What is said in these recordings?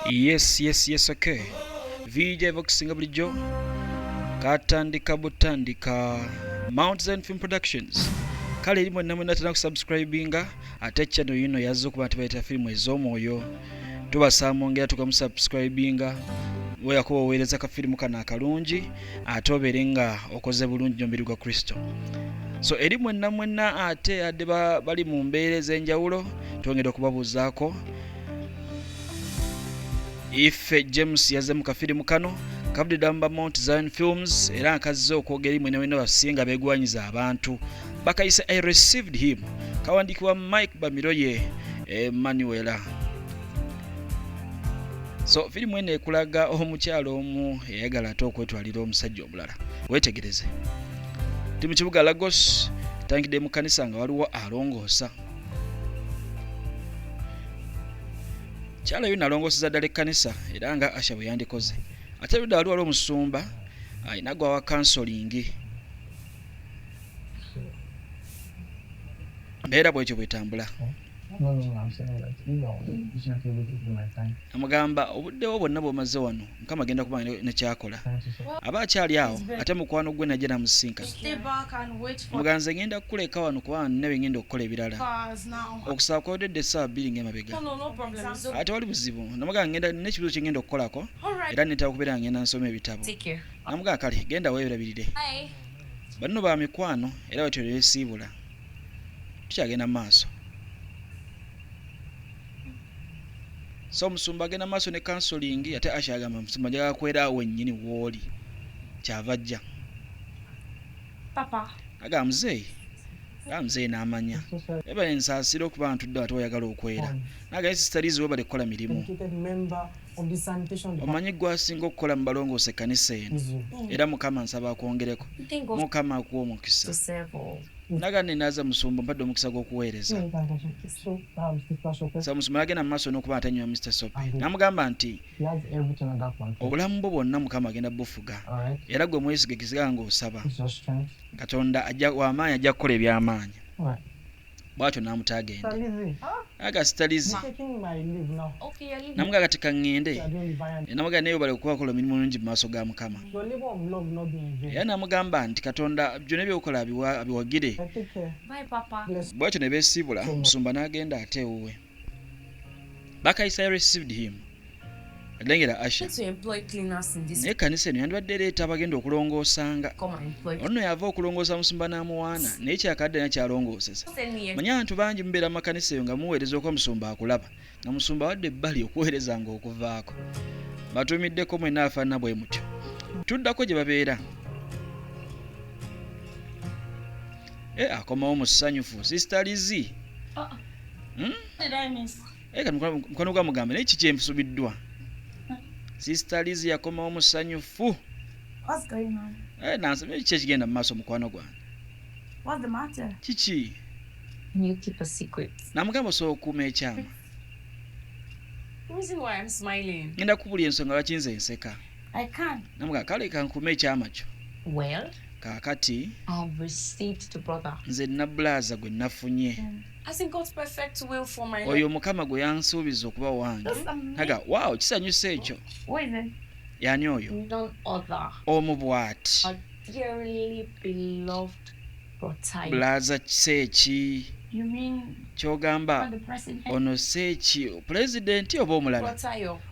yes yes yes okay vijay vokusinga bulijjo katandika butandika mount zion film productions kale eri mwenna mwenna tena kusubscribinga ate channel yino yazze okuba nti bayita firimu ez'omwoyo tubasaba mwongera tukamusubscribinga weyakuba oweereza kafirimu kano akalungi ate obeere nga okoze bulungi nomubiri gwa kristo so eri mwenna mwenna ate adde bali mu mbeera ez'enjawulo twongere okubabuuzaako ife james yazze mu kafirimu kano kabudde mu mount zion films era nkazze okwogera imwe newena basinga begwanyiza abantu bakayise i received him kawandiikibwa mike bamiroye emmanuela eh, so firimu eno ekulaga omukyalo omu eyagala ate okwetwalira omusajja omulala wetegereze ti mu kibuga lagos tangidde mu kanisa nga waliwo alongoosa kyalayo nalongoseza ddala ekkanisa era nga asha bwe yandikoze ate ludda wali wali omusumba alina gwawa kansolingi mbeera bwekyo bwetambula Namugamba obudde bwo bwonna bw'omaze wano Mukama agenda kuba ne ky'akola. Aba akyali awo ate mukwano gwe n'ajja n'amusisinkana. Namugamba nze ng'enda kukuleka wano kubanga nnina bye ng'enda okukola ebirala. Okusaba kwawedde essaawa bbiri ng'emabega. Aa tewali buzibu. Namugamba ng'enda nnina ekibuuzo kye ng'enda okukolako era nneetaaga okubeera nga ng'enda nsoma ebitabo. Namugamba kale genda weerabirire. Banno ba mikwano era bwe tutyo ne beesiibula. tukyagenda mu maaso so omusumba agenda mu maaso ne kansolingi ate asha agamba omusumba njagala kwera awo wennyini wooli kyava ajja aga muzeeyi aga muzeeyi n'amanya ebale nsaasira okuba ntudde ate oyagala okwera naga ye sisitaliizi webale kukola mirimu omanyi gwasinga okukola mu balongoosa ekkanisa eno era mukama nsaba akwongereko mukama akuwa omukisa naga nenaza musumba mpadde omukisa gw'okuweereza sa musumba nagenda mu maaso n'okuba atanywa mr sop namugamba nti obulamu bwo bwonna mukama agenda bufuga era gwe mwesige kisigala ng'osaba katonda wamaanyi ajja kukola eby'amaanyi bwatyo n'amuta agende agasita lizi namugaa kati kaŋŋende namugaa naye obale okuba okola omirimu mulungi mu maaso ga mukama era namugamba nti katonda byona ebyokola abiwagire bwatyo ne beesiibula omusumba n'agenda ate ewuwe bakaisayo received him lengera asha naye kanisa eno yandibadde ereeta abagenda okulongoosanga ono yava okulongoosa musumba n'amuwaana naye kyakadde na kyalongooseza manye abantu bangi mubeera mu makanisa eyo nga muweereza okuba musumba akulaba nga musumba wadde ebbali okuweereza nga okuvaako batuumiddeko mwena afaanana bwe mutyo tuddako gye babeera Eh, akomawo musanyufu sister lizi ah, ah. hmm? eh, mukwano gwa mugambe naye kiki ensubiddwa sister lizi yakomawo musanyufu eh, nansaba kiki ekigenda mu maaso mukwano gwange kiki namugamba osobola okukuuma ekyama ngenda kubuli ensonga lwaki nze nseka I can. Namuga kale kankume ekyama kyo. Well, kakati I've received the brother. Nze nabulaza gwe nafunye. Mm. As in God's perfect will for my life. Oyo mukama gwe yansuubiza okuba wange. Naga, wow, kisanyusa ekyo. Where is it? Yani oyo. None other. Omu bwati. A dearly beloved Bulaza kiseeki kyogamba ono seeki pulezidenti oba omulala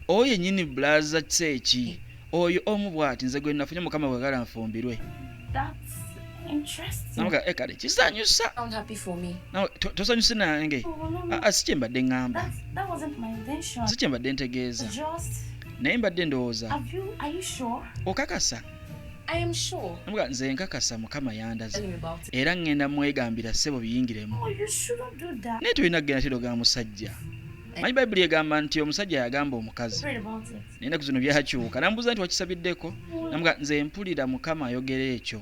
oyo yenyini bulaza kiseeki oyo omu bwati nze gwe nafunye mukama bwagala nfumbirwe eh, kale kisanyusa tosanyuse nange oh, ah, ah, si kyembadde ŋŋamba si kyembadde ntegeeza naye mbadde ndowooza okakasa Mbwa nze nkakasa mukama yandaze era ŋŋenda mwegambira ssebo biyingiremu oh, naye tolina kugenda tiro ga musajja eh. manyi bayibuli egamba nti omusajja yagamba omukazi naye naku zino byakyuka nambuuza nti wakisabiddeko namga nze mpulira mukama ayogera ekyo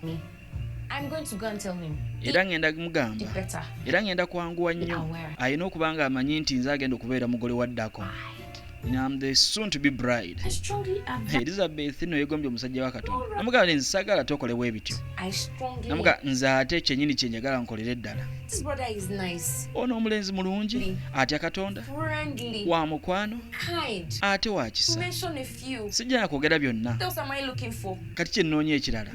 era ŋŋenda mugamba era ŋŋenda kwanguwa nnyo alina okuba ng'amanyi nti nze agenda okubeera mugole wa ddako elizabeth no yegombye omusajja wa katonda namugamba nti nsagala tokole bwe bityo namuga nze ate kyenyini kyenjagala nkolere ddala ono omulenzi mulungi atya katonda wa mukwano ate wakisa sijjana kwogera byonna kati kyennoonya ekirala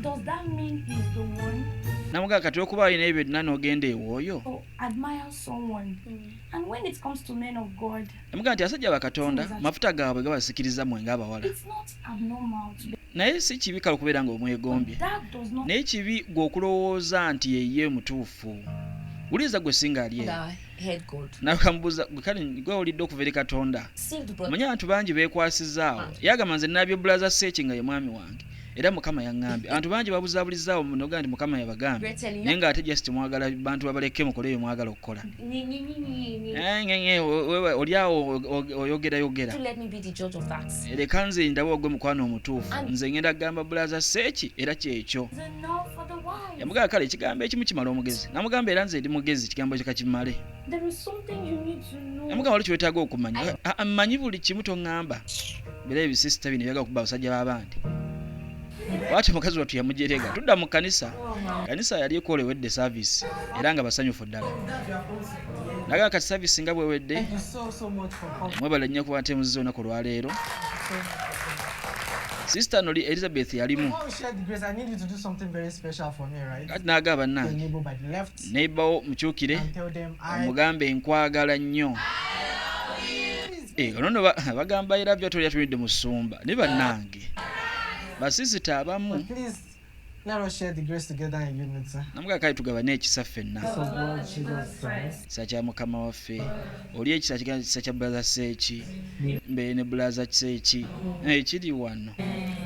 namugaa kati okuba alina ebyo byonna n'ogenda ewooyo namugaa nti asajja bakatonda mafuta gaabwe gabasikiriza mwe ngaabawala naye si kibi kale okubeera nga omwegombye naye kibi gwe okulowooza nti yeye mutuufu wuliriza gwe singa ali eyo nawe kamubuuza kale gwe olidde okuva eri katonda manye abantu bangi bekwasizaawo yagamba nze nabyo bulaza seeki nga ye mwami wange era mukama yaŋambye abantu bangi babuzabulizaawo munoga nti mukama yabagambye naye nga ate just mwagala bantu babaleke mukole ebyo mwagala okukola oli awo oyogerayogera leka nze ndaba ogwe mukwano omutuufu nze ngenda kugamba bulaza seeki era kyekyo yamugamba kale ekigambo ekimu kimala omugezi namugamba era nze ndi mugezi ekigambo kyo kakimale yamugamba wali kyewetaaga okumanya mmanyi buli kimu toŋŋamba bera ebisisita bino ebyaga okuba abasajja b'abandi bwati mukazi wattu yamujerega tudda mu kkanisa kkanisa yali ekolewedde saavisi era nga basanyufu ddala naga kati saavisi nga bwewedde mwebale nnyo kuba nte muzizza olunaku olwaleero sisita noli elizabeth yalimu naaga bannange neibawo mukyukire omugambe nkwagala nnyo eh, onono bagamba era byo tolya tulidde musumba ne bannange basisita abamu namugakale tugabane ekisa ffenna sa kya mukama waffe oli ekisa kigana kisa kya bulaza seeki mbere ne bulaza seeki ekiri eh, wano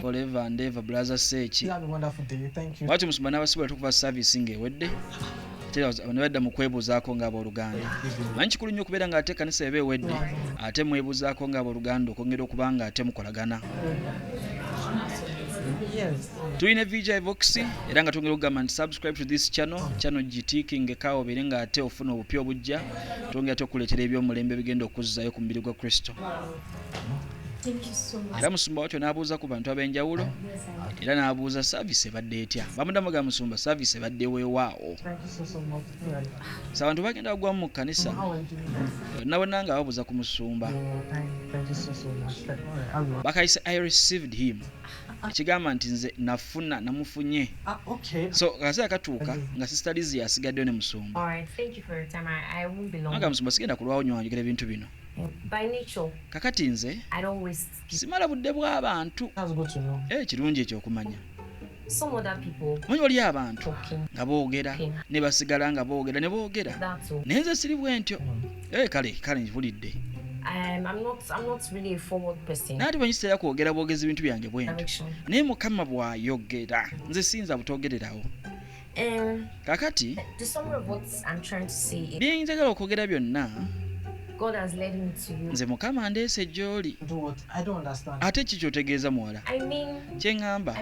forever and ever bulaza seeki lwaki omusumba n'abasibula tukuva service ng'ewedde nebadda mu kwebuuzaako nga abooluganda manyi kikulu nnyo okubeera ng'ate ekanisa eba ewedde ate mwebuuzaako nga abooluganda okwongera okuba nga ate mukolagana tulina vgi vox era nga twongera okugamba nti subscribe to this channel channel gitiikingekawo obeere nga ate ofuna obupya obujja twongera te okukuleetera ebyomulembe bigenda okuzzayo ku mubiri gwa kristo era musumba watyo n'abuuza ku bantu ab'enjawulo era n'abuuza saavisi ebadde etya bamudamu ga musumba saavisi ebadde weewaawo sa abantu bagenda bagwamu mu kkanisa nabona nga babuuza ku musumba bakayise i received him ekigamba nti nze nafuna namufunye ah, so akaseera katuuka nga sister lizi yasigaddeyo ne musumbaanga musumba sigenda kulwawo nyo wanjogera ebintu bino kakati nze simala budde bw'abantu eh, kirungi ekyo okumanya manyi waliyo abantu nga boogera ne basigala nga boogera ne boogera naye nze siri bwentyo Eh, kale kale njipulidde naye ate banyiseera kwogera bwogezi bintu byange bwenti naye mukama bwayogera nze siyinza butogererawo um, kakati byenjagala okwogera byonna nze mukama ndeese gy'oli ate ki kyotegeeza muwala kye ŋŋamba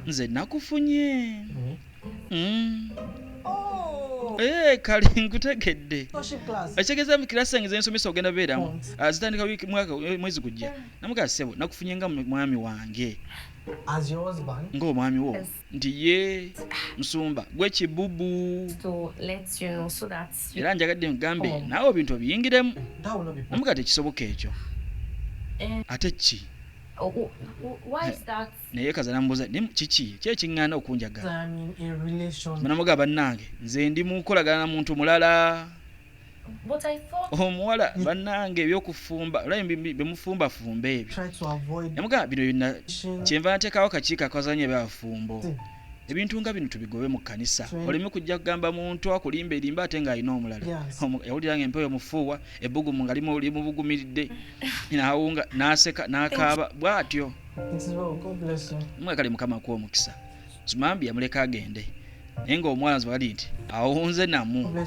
nze nakufunye mm-hmm. Eh, kale nkutegedde ekitegeeza mu kirasi zange zensomesa ogenda beeramu ah, zitandika eh, mwezi gujja namugaa sebo nakufunye nga mwami wange ng'omwami wo nti ye musumba gwekibubu era njagadde nkugambe oh. naawe ebintu obiyingiremu namugaa tekisoboka ekyo eh. ate ki oh, oh, naye kaza namubuuza naye kiki ki ekiŋŋaana okunjagala banamugaa bannange nze ndi mu nkolagana na muntu mulala omuwala oh, bannange ebyokufumba bemufumbafumba ebyo namugaa bino byonna kyenva nateekawo kakiiko akazanya ebyabafumbo ebintu nga bino tubigobe mu kkanisa oleme kujja kugamba muntu akulimba erimba ate ng'alina omulala yawulira nga empewo mufuuwa ebbugumu nga limubugumiridde n'awunga n'aseka n'akaaba bw'atyo mwagale mukama akuwa omukisa zumambi yamuleka agende naye ngaomuwala nzibagadi nti awunze namu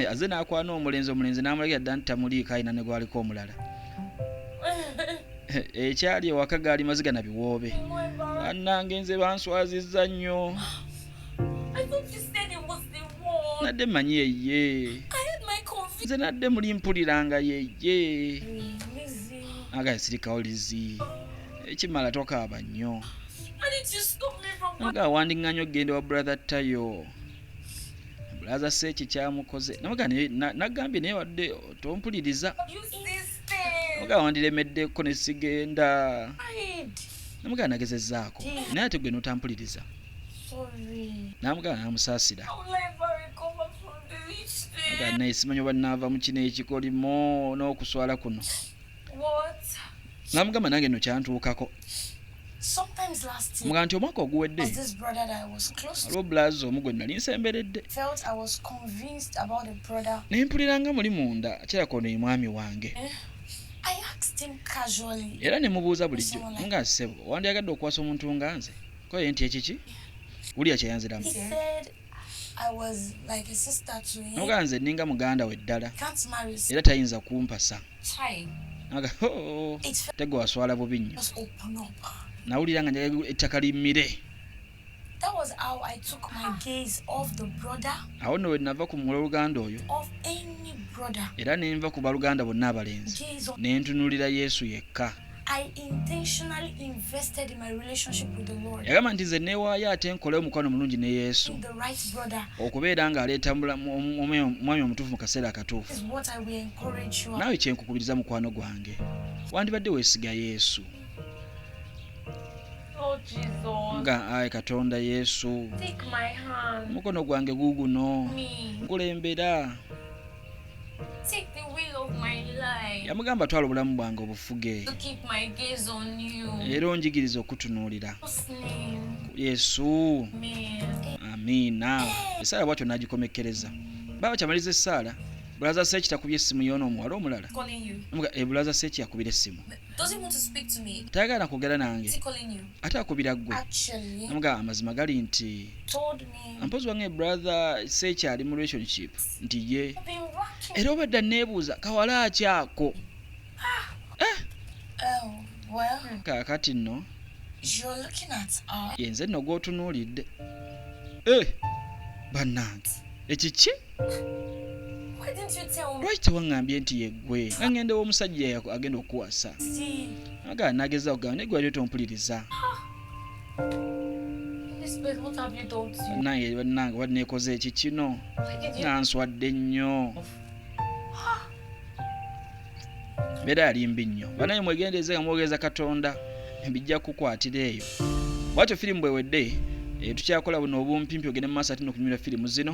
aze nakwana omulenzi omulenzi namulagira dda nti tamuliiko alina ne gwaliko omulala ekyali ewaka gaali maziga na biwoobe annange nze banswaziza nnyo nadde manyi yeye nze nadde muli mpuliranga yeye Naga sirika olizi. Ekimala tokaaba nnyo. Naga wandinganyo genda wa brother tayo. Brother sechi kyamukoze. Naga nagambye naye wadde tompuliriza. Naga wandiremedde ko ne sigenda. Naga nagezezaako. Naye ate gwe notampuliriza. Sorry. Naga namusaasira. banaisimanyo banava mukino ekikolimo n'okuswala kuno namugamba nange no kyantuukako muga nti omwaka oguwedde aliwo bulazi omu gwe nali nsemberedde naye mpulira nga muli munda kirako ono ye mwami wange eh? era ne mubuuza bulijjo nga ssebo wandyagadde okukwasa omuntu nga nze koye nti ekiki wulira kyeyanziramu noga nze ninga muganda we ddala era tayinza kumpasa naga oh, tego waswala bubi nnyo nawulira nga njaga ettaka limmire awo nno wenava ku mula oluganda oyo era nenva ku baluganda bonna abalenzi nentunulira yesu yekka yagamba nti nze neewaayo ate nkole omukwano mulungi ne yesu okubeera nga aleeta omwami omutuufu mu kaseera akatuufu naawe kyenkukubiriza mukwano gwange wandibadde weesiga yesu oh, nga ayi katonda yesu omukono gwange guuguno nkulembera yamugamba twala obulamu bwange obufuge era onjigiriza okutunuulira yesu amiina esaala bwatyo nagikomekkereza baba kyamaliza esaala bulaza seeki takubye essimu yoona omuwala omulala eh, bulaza seeki yakubira essimu tayagala nakwogera nange ate akubira ggwe amuga amazima gali nti mpozi wange brother seeki ali mu relationship nti ye era obadde anneebuuza kawala ki ako eh! kaakati nno yenze nno gw'otunuulidde eh! bannange ekiki lwaki tewaŋŋambye nti yeggwe nga ŋŋenda ew'omusajja agenda okukuwasa aga nageza okugamba naye gwali otompuliriza nange bannange oba nekoze eki kino nga nswadde nnyo mbeera yali mbi nnyo banaye mwegendereze nga mwogereza katonda bijja kukwatira eyo bwatyo firimu bwewedde eh, tukyakola buno obumpimpi ogende mu maaso ate nokunyumira firimu zino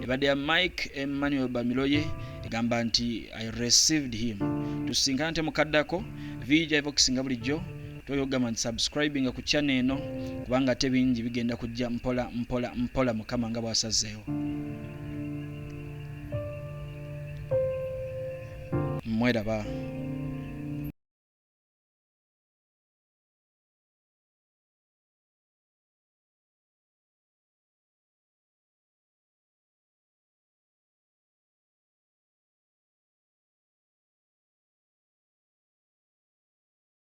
ebadde ya mike emmanuel bamiloye egamba nti i received him tusinkana nte mukaddako vijaivokisinga bulijjo toyogama nti subscribinga ku channel eno kubanga ate bingi bigenda kujja mpola mpola mpola mukama nga bwasazeewo mweraba